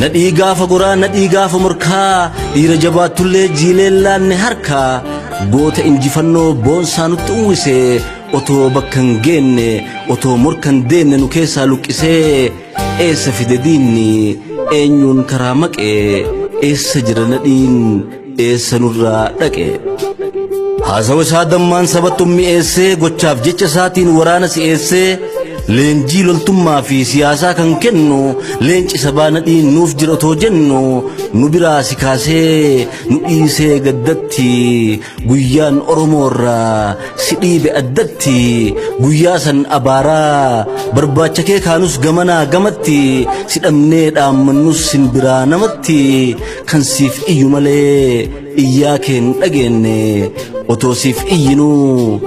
Nadhii gaafa goraa nadhii gaafa morkaa dhiira jabaattullee jiileen laanne harkaa goota injifannoo boonsaa nutti uwwise otoo bakka hin geenne otoo morka hin deenne nu keessaa luqqisee eessa fide diinni eenyuun karaa maqe eessa jira nadhiin eessa nurraa dhaqe haasawa isaa dammaan sabattuun mi'eessee gochaaf jecha isaatiin waraana si'eessee leenjii loltummaa fi siyaasaa kan kennu leenci sabaa nadhiin nuuf jira otoo jennu nu biraa si kaasee nu dhiisee gaddatti guyyaan oromoorraa si dhiibe addatti guyyaa san abaaraa barbaacha kee kaanus gamanaa gamatti si dhabnee dhaammannus sin biraa namatti kan siif iyyu malee iyyaa keen dhageenne otoo siif iyyinuu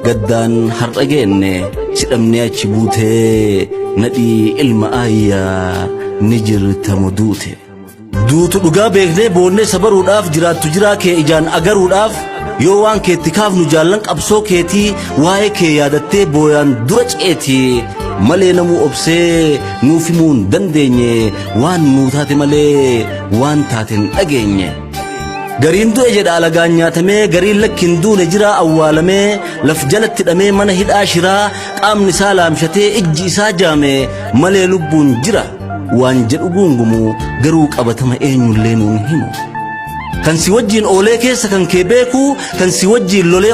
gaddaan har'a geenne si dhabnee achi buutee nadhii ilma aayyaa ni jirtamo duute. Duutu dhugaa beeknee boonnee sabaruudhaaf jiraattu jiraa kee ijaan agaruudhaaf yoo waan keetti kaafnu jaallan qabsoo keetii waa'ee kee yaadattee booyaan dura ceeti malee namuu obsee nuuf himuu hin dandeenye waan nuu taate malee waan taate hin dhageenye. Gariin du'e jedha alagaan nyaatamee gariin lakki hin duune jira awwaalamee laf jalatti hidhamee mana hidhaa shiraa qaamni isaa laamshatee ijji isaa jaame malee lubbuun jira waan jedhu guungumu garuu qabatama eenyullee nuun himu. Kan si wajjin oolee keessa kan kee beeku kan si wajjin lolee